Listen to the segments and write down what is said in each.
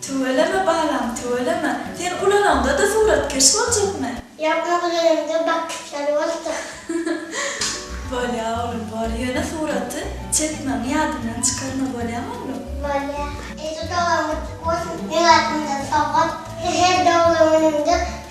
Tüweleme balam tüweleme, sen ulanaňda-da suratkeş boljakmy? Ýapma gülüliňde bakgyçlar bolsa. Bolýa oglum bor, ýöne suraty çekmäňi ýadyňdan çykarma bolýamy oglum? Bolýa. Eje dogan gutluk bolsun, meň adymdan sowgat. Her doglan günüňde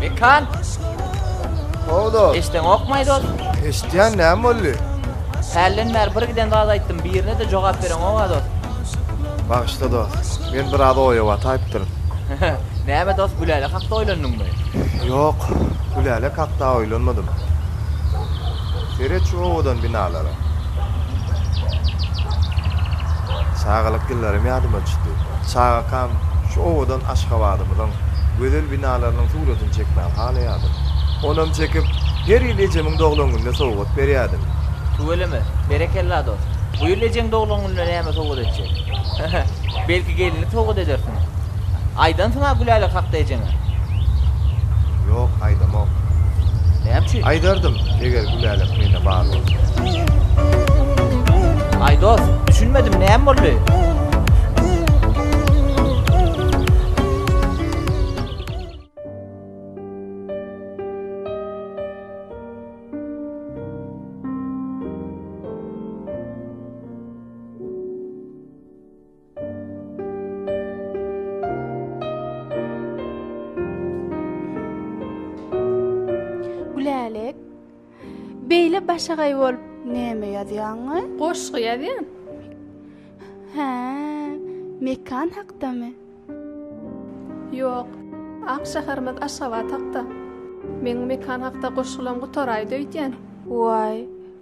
Mekan! How dost? Eşdeňokmaý dost? Eşitýän näme boldy? Hälden bäri bir giden zat aýtdym, birine-de jogap bereňok-a dost. Bagyşla dost. Men biraz oýa bataýypdyryn. Näme dost, Gülälek hakda oýlandyňmy? Ýok, Gülälek hakda oýlanmadym. Seret şu owadan binalara. Çagalyk ýyllarym ýadyma düşdi. Çagakam şu owadan Aşgabadymyzyň gözel binalarynyň suratyny çekmäni halaýardym. Onam çekip, her ýyl ejemiň doglan gününe sowgat berýärdim. Tüweleme, berekella dost. Bu ýyl ejeň doglan gününe näme sowgat etjek? He-he, belki gelinlik sowgat edersiň? Aýdansyň-a Gülälek hakda ejeňe? Ýok, aýdamok. Näme üçin? Aýdardym, eger Gülälek mende bar bolsa. Aý dost, düşünmedim, näme boldy? Gülälek, beýle başagaý bolup näme ýazýaňmy? Goşgy ýazýan. Hä, mekan hakdamy? Ýok, ak şäherimiz Aşgabat hakda. Meň mekan hakda goşgulaň gutaraýdy öýdýän. Waý,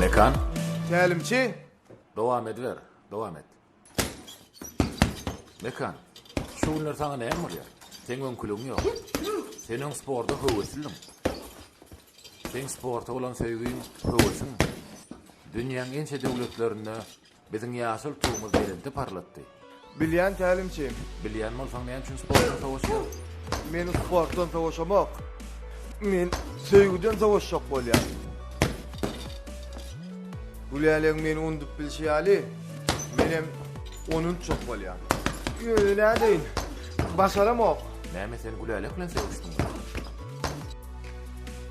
Mekan, Tälimçi! dowam ediber, dowam et. Mekan, şu günler saňa näme bolýar? Seň öňküligiň ýok. Sen öň sporta höweslidiň. Seň sporta bolan söýgiň, höwesiň dünýäň ençe döwletlerinde Biziň ýaşyl Tugumyz belende parlatdy. Bilýän tälimçi. Bilýän bolsaň näme üçin sportdan sowaşýaň? Men sportdan sowaşamok. Men söýgüden sowaşjak bolýan. Gülälegiň meni undup bilşi ýaly, menem ony untjak bolýan. Ýöne nädeýin? Başaramok. Näme sen Gülälek bilen söýüşdiňmi?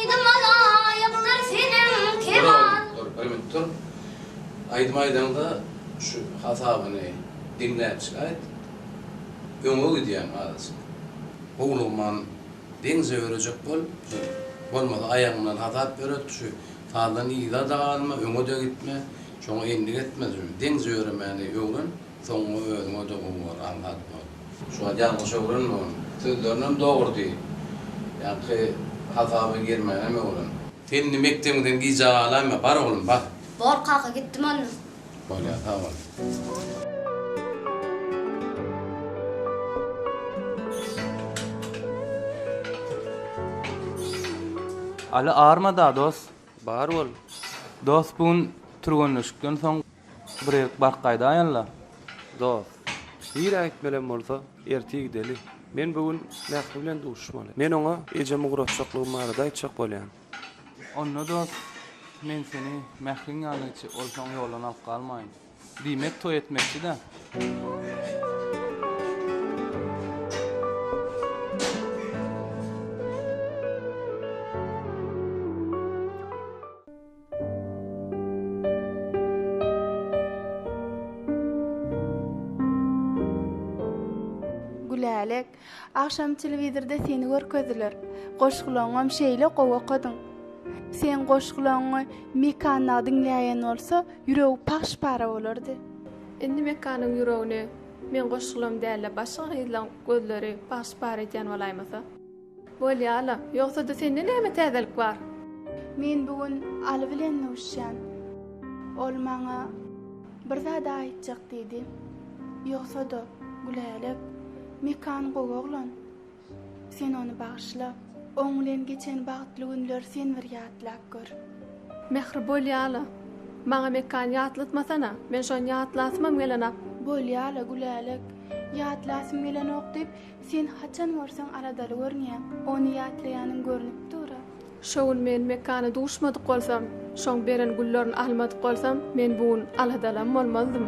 Aýdyma laýykdyr seniň keman. Dur oglum, dur, bilmp dur. Aýdym aýdaňda şu hasabyny diňläpjik aýt. Öňe gidýäň azajyk. Howlugman deňze örejek bol. Bolmasa aýagyňdan hasap öret. Şu sazdan yza-da galma, öňe-de gitme. Şoňa endik etme. Deňze öremäni öwren. Soňy özüňe de gowy bor Aňsat dost. Şuwagt ýalňyş öwrenme ony. Sözlerinem dogry diý. Ýaňky hasaba girmänem öwren. Sen indi mekdebiňden gijä galaýma, bar oglum, bar. Bor kaka, gitdim onda. Bolýar, sag bol. Aly arma-da, dost. Bar bol. Dost, bu gün türgenleşikden soň. Birek bark gaýdaýynla, dos. Nirä gitmelem bolsa, ertir gideli. Men bu gün Mähri bilen duşuşmaly. Men oňa ejemi ugraşjaklygym barada aýtjak bolýan. Onda, dos, men seni Mähriň ýanyna gitjek bolsaň, ýoldan alyp galmaýyn. Diýmek, toý etmekçi-dä? Gülälek, agşam telewizorda seni görkezdiler. Goşgulaňam şeýle gowy okadyň. Seň goşgulaňy Mekana diňläýen bolsa, ýüregi pahş-para bolardy. Indi Mekanyň ýüregini meň goşgularym däl-de, başga gyzlaň gözleri pahş-para edýän bolaýmasa? Bolýa-la. Ýogsa-da sende näme täzelik bar? Men bu gün Aly bilen duşýan. Ol maňa bir zat aýtjak diýdi. Ýogsa-da, Gülälek, Mekan gowy oglan. Sen ony bagyşla. Oň bilen geçen bagtly günleri sen bir ýatlap gör. Mähri, bolýa-la. Maňa Mekany ýatlatmasana. Men şony ýatlasymam gelenok. Bolýa-la, Gülälek. Ýatlasym gelenok diýip, Sen haçan görseň aladaly görünýäň. Ony ýatlaýanyň görnüp dur-a. Şo gün men Mekana duşmadyk bolsam, şoň beren güllerini almadyk bolsam, men bu gün aladalam bolmazdym.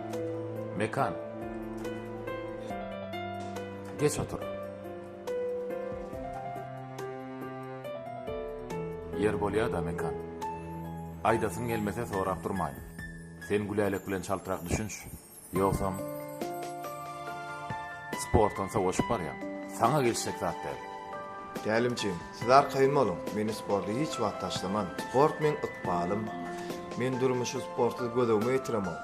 Mekan. Geç otur. Ýer bolýa-da, Mekan. Aýdasyň gelmese sorap durmaýyn. Sen Gülälek bilen çaltrak düşünş. Ýogsam, sportdan sowaşyp barýaň. Saňa gelişjek zat däl. Tälimçim, siz arkaýyn boluň. Meni sporty hiç wagt taşlaman. Sport meň ykbalym. Men durmuşy sportsyz gözegime getiremok.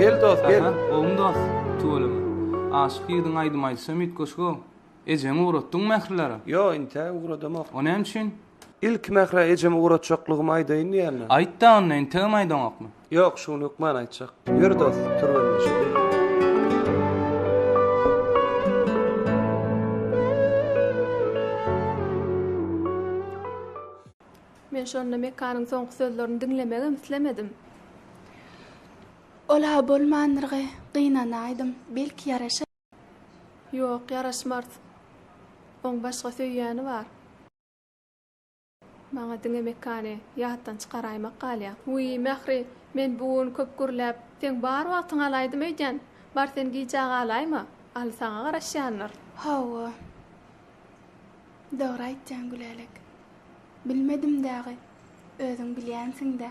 Gel dost, gel. Gowum dost, tuweleme. Aşyk ýigidiň aýdym aýdyşam üýtgeşik-ow. Ejeňi ugratdyňmy mähirlere? Ýo, inte ugradamok. O näme üçin? Ilki Mährä ejemi ugratjaklygymy aýdaýyn diýýändim. Aýt-da onda, integem aýdaňokmy? Ýok, şu gün hökman aýtjak. Ýör dost, türgenleşeýin. Men şonda Mekanyň soňky sözlerini diňlemegem islemedim. Ol-a bolmandyrgy, gynanaýdym. Belki ýaraşar? Ýok, ýaraşmars. Oň başga söýýäni bar. Maňa diňe Mekany ýatdan çykaraýmak galýa. Wiý, Mähri, men bu gün köp gürläp, seň bar wagtyňy alaýdym öýdýän. Bar sen gijä galaýma. Aly saňa garaşýandyr. Hawa. Dogry aýtýaň, Gülälek. Bilmedim dagy. Özüň bilýänsiň-dä.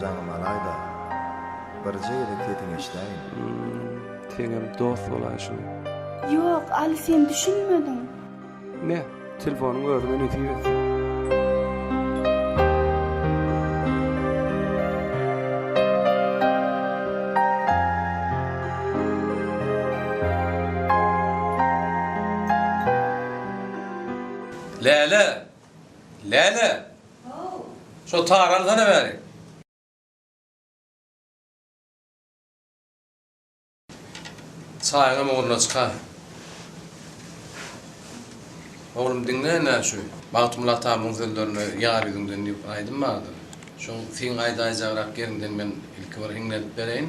Jaňym alaýda, birje gezek sesiňi eşidäýin. Hum, seňem dost bolaý şuny. Ýok, Aly sen düşünmediň. Ne, telefonyň özüňe nesip etsin. Läle, Läle! Şo tary alsana bäri. Çaýyňam ugruna çyka. Oglum diňle ine şu Magtymguly atamyň sözlerini Ýar ýüzüňden diýip aýdym bardyr. Şoň siň aýdaýjagrak ýeriňden men ilki bir hiňlenip bereýin.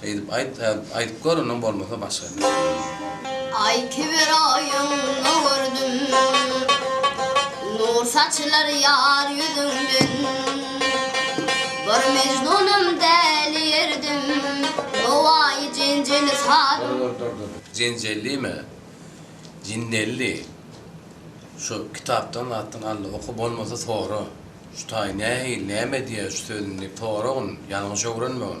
Şeýdip aýt aýdyp gör onam bolmasa başga. Aýtyber oýuň gördüm. Nur saçylar ýar ýüzüňden. Bir mejnunam däli ýerdim. Nowaýy jenjeli saz. Jenjellime? Jinnelli. Şu kitapdan zatdan aldy oky bolmasa sora. Şu taý nähili näme diýýär şu sözüni diýip soragyn ýalňyş öwrenmegin.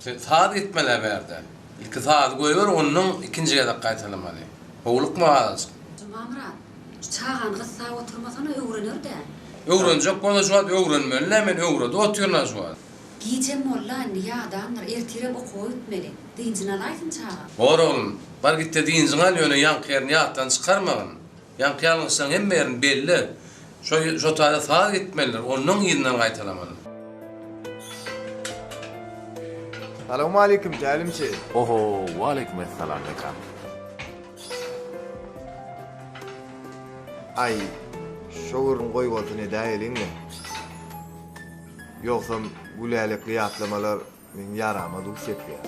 Sen saz etmeli eberde. Ilki sazy goýber ondan ikinji gezek gaýtalamaly. Howlukma azajyk. Jumamyrat, şu çagany gyssap oturmasana öwrener däl. Öwrenjek bolsa şu wagt öwrenmeli dä men öwredip otyryn-a şu wagt. Gijäm molla indi ýadandyr, ertirem okuwa gitmeli. Dynjyny alaýsyn çaga. Bor oglum, bar gitde dynjyňy al ýöne ýaňky ýerini ýatdan çykarmagyn. Ýaňky ýalňyşlaň hemme ýerini belle. Şo şo taýda sag gitmelidir, onnoň yzyndan gaýtalamaly. Salowmaleýkim tälimçi. Oho, waleýkim essalam Mekan. Aý, şo gürrüň goý bolsun edäýeliň-le. Ýogsam, gülälekli ýatlamalar Meň ýarama duş ýetýär.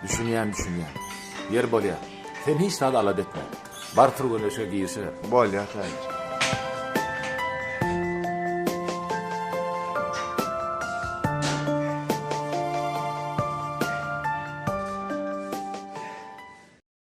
Düşünýän düşünýän. Ýer bolýa. Sen hiç zat alada etme. Bar türgenleşige girişiber. Bolýa Täjik.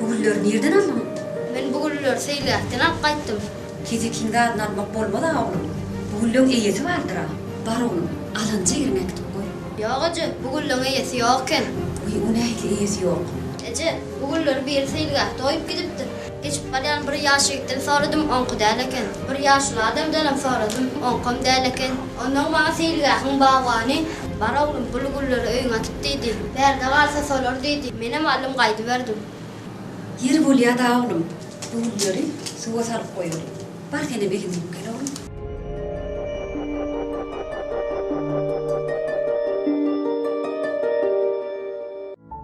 Bu gülleri nirden aldyň? Men bu gülleri seýläkden alyp gaýtdym. Tije kiň zadyny almak bolmaz-a oglum. Bu gülleň eýesi bardyr-a. Bar oglum, alanja ýeriňe äkidip goý. Ýok eje, bu gülleň eýesi ýok eken. Wiý, o nähili eýesi ýok? Eje, bu gülleri biri seýilgähde goýup gidipdir. Geçip galýan bir ýaş ýigitden soradym, oňky däl eken. Bir ýaşuly adamdanam soradym, oňkam däl eken. Onsoň maňa seýilgähiň bagbany, Bar oglum, bu lügülleri öýüňe atyp diýdi. Bärde galsa solar diýdi. Menem aldym gaýdyberdim. Ýeri bolýa-da oglum, lügülleri suwa salyp goýaly. Bar senem eliňi ýuwup gel oglum.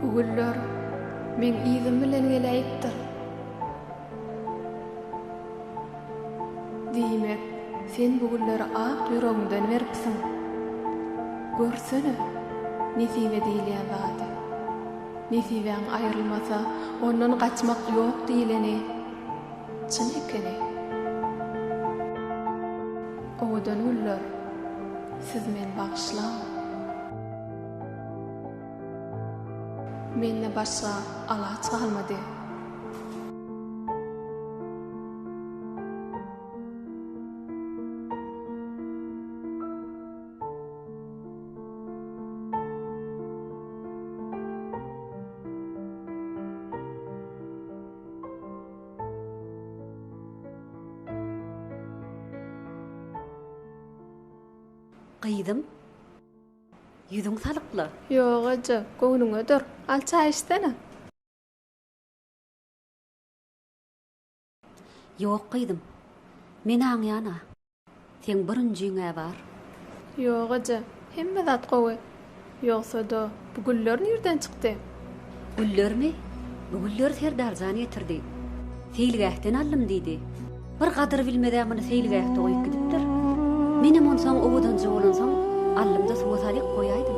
Bu güller meň yzym bilen geläýipdir. Diýmek, sen bu gülleri ak ýüregiňden beripsiň. Görsene, nesibe diýilýän zady. Nesibäň aýrylmasa, ondan gaçmak ýok diýleni çyn ekeni. Owadan günler siz men bagyşlaň. Mende başga alaç galmady. Gyzym, ýüzüň salykly. Ýok, eje, göwnüňe dur. Al çaý içsene. Ýok, gyzym. Men aňýan-a. Seň birinjiň-ä bar. Ýok eje, hemme zat gowy. Ýogsa-da, bu güller nirden çykdy? Güllermi? Bu gülleri Serdar jan getirdi. Seýilgähden aldym diýdi. Bir gadyr bilmez-ä muny seýilgähde goýup gidipdir. Menem onsoň owadanja bolansoň aldym-da suwa salyp goýaýdym.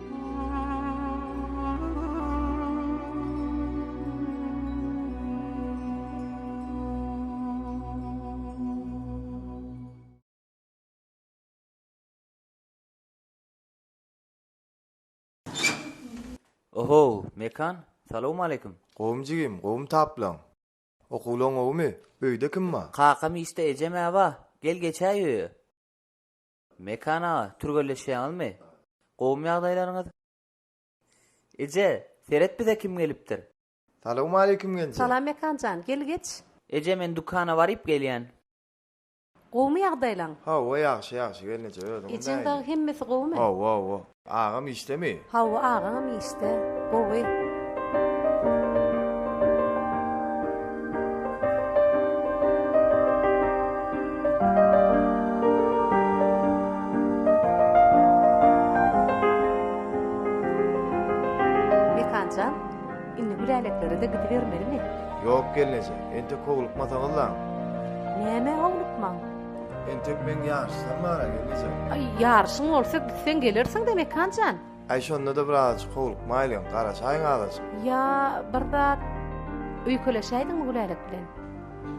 Ohow, Mekan, salowmaleýkim! Gowumy jigim, gowumy taplaň? Okuwlaň gowumy? Öýde kim bar? Kakam işde, ejem-ä bar. Gel geçäý öýe. Mekan aga, türgenleşýäňizmi? Gowumy ýagdaýlaryňyz? Eje, seret bize kim gelipdir? Salowmaleýkim Genje. Salam Mekan jan, gel geç. Eje, men dükana baryp gelýän. Gowumy ýagdaýlaň? Hawa, ýagşy, ýagşy gelneje, özüňiz Ejeň dagy nähili? hemmesi gowumy? Hawa, hawa. Agam işdemi? Hawa agaňam işde, gowy. Mekanjan, indi Güläleklerede gidibermelimi? Ýok gelneje, entek howlukmasaňyzlaň. Nämä howlukmaň? Entek meň ýaryşsam bar enejem. Aý, ýaryşyň bolsa gitseň gelersiň-dä Mekan jan. Aý, şonda-da bir azajyk howlukmaýlyň, garaşaýyň azajyk. Ýa, bir zat öýkeleşäýdiňmi Gülälek bilen?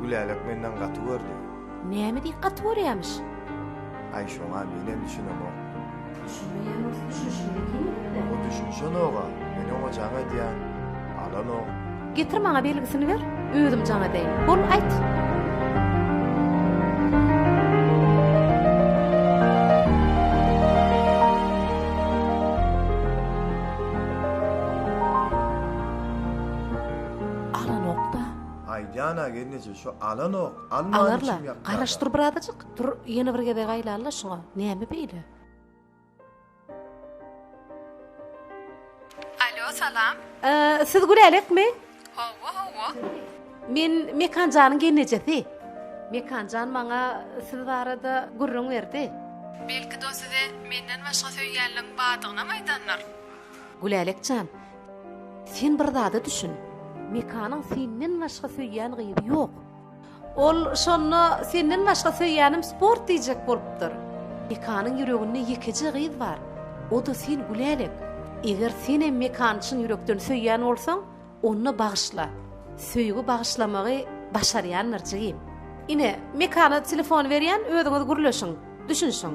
Gülälek menden gaty gördi. Näme diýip gaty görýämiş? Aý, şoňa menem düşünemok. Düşünmeýän bolsa düşünişini diýmesene. O düşünişenok-a, men oňa jaň edýän. Alanok. Getir maňa belgisini ber, özüm jaň edeýin. Bol, aýt. Alanok-da. Aýdýan-a gelneje, şu alanok, alman içim ýakýa-da. Alar-la, garaş dur birazajyk. Tur, ýene bir gezek aýlal-da şuňa, näme beýle? Alo, salam. Siz Gülälekmi? Hawa, hawa. Men Mekan janyň gelnejesi. Mekan jan maňa siz barada gürrüň berdi. Belki-de o size menden başga söýýänleň bardygynam aýdandyr? Gülälek jan, sen bir zada düşün. Mekanyň senden başga söýýän gyzy ýok. Ol şonda senden başga söýýänim sport diýjek bolupdyr. Mekanyň ýüreginde ýekeje gyz bar, o-da sen Gülälek. Eger senem Mekany çyn ýürekden söýýän bolsaň, onda bagyşla. Söýgi bagyşlamagy başarýandyr jigim. Ine, Mekana telefony berýän, özüňiz gürleşiň, düşünişiň.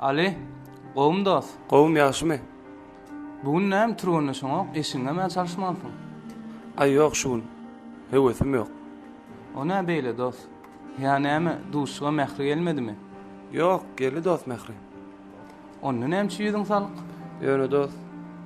Aly, gowumy dost? Gowum, ýagşymy? Bu gün näme türgenleşeňok, eşiňem-ä çalyşmansyň? Aý, ýok şu gün. Höwesim ýok. O nä beýle, dost? Ýa näme, duşuşyga Mähri gelmedimi? Ýok, geldi dost Mähri. Onda nämçe ýüzüň salyk? Ýöne dost.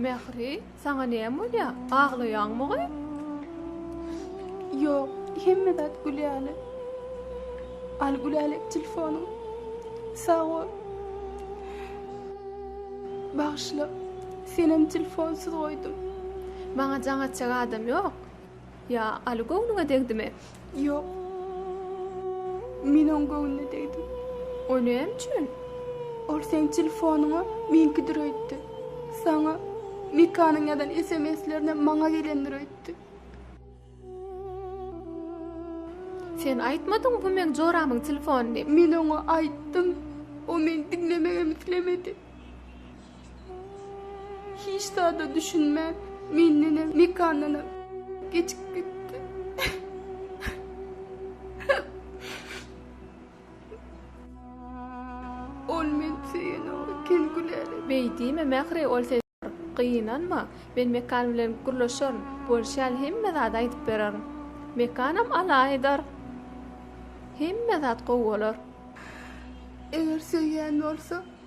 Mähri, saňa näme bolýar? Aglaýaňmygy? Ýok, hemme zat gülýäli. Al Gülälek telefonyň. Sag bol. Bagyşla. Senem telefonsuz goýdum. Maňa jaň atjak adam ýok. Ýa Aly göwnüňe degdimi? Ýok. Men oň göwnüne degdim. O näme üçin? Ol seň telefonyňa meňkidir öýtdi. Saňa Mikanyň ýazan SMS-lerine maňa gelendir öýtdi. Sen aýtmadyňmy bu meň joramyň telefony diýip? Men oňa aýtdym. O meni diňlemegem islemedi. Hiç zada düşünmän, mendenem, Mekandanam geçip gitdi. Ol meni söýenok eken Gülälek. Beý diýme, Mähri, ol seni bir gynanma. Men Mekan bilen gürleşerin. Bolşy ýaly hemme zady aýdyp bererin. Mekanam alaýdar. Hemme zat gowy bolar. Eger söýýän bolsa,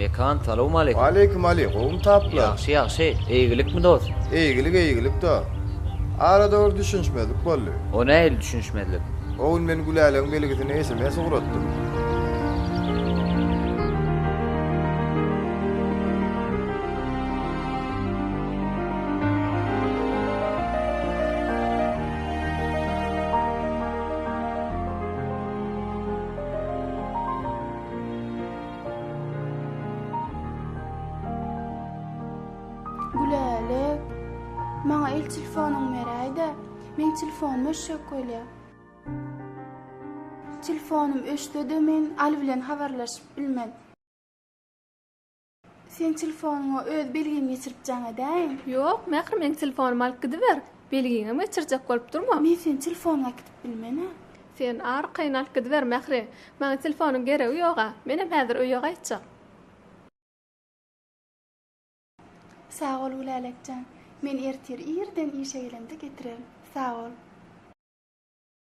Mekan salowmaleýkum. Waleýkim Aly, gowumy taplar? Ýagşy, ýagşy. Eýgilikmi dost? Eýgilik, eýgilik-da. Arada bir düşünişmezlik boldy. O nähili düşünişmezlik? O gün men Güläleň belgisine sms ugratdym. Gülälek, maňa el telefonyňy beräý-de, meň telefonym öçjek bolýar. Telefonym öçse-de men Aly bilen habarlaşyp bilmen. Sen telefonyňa öz belgiňi geçiripjäň edäýiň. Ýok, Mähri meniň telefonymy alyp gidiber. Belgiňem geçirjek bolup durma. Men seniň telefonyňy äkidip bilmenä. Sen arkaýyn alyp gidiber, Mähri. Maňa telefonyň geregi ýog-a. Menem häzir öýe gaýtjak. Sag bol, Gülälek jan. Men ertir irden işe gelemde getirerin. Sag bol.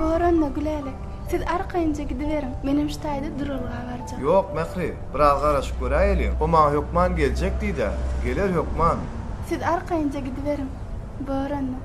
Boranna, Gülälek, siz arkaýynja gidiberiň, menem şu taýda duralga barjak. Ýok, Mähri, biraz garaşyp göräýeliň. O maňa hökman geljek diýdi-ä. Geler hökman. Siz arkaýynja gidiberiň, Boranna.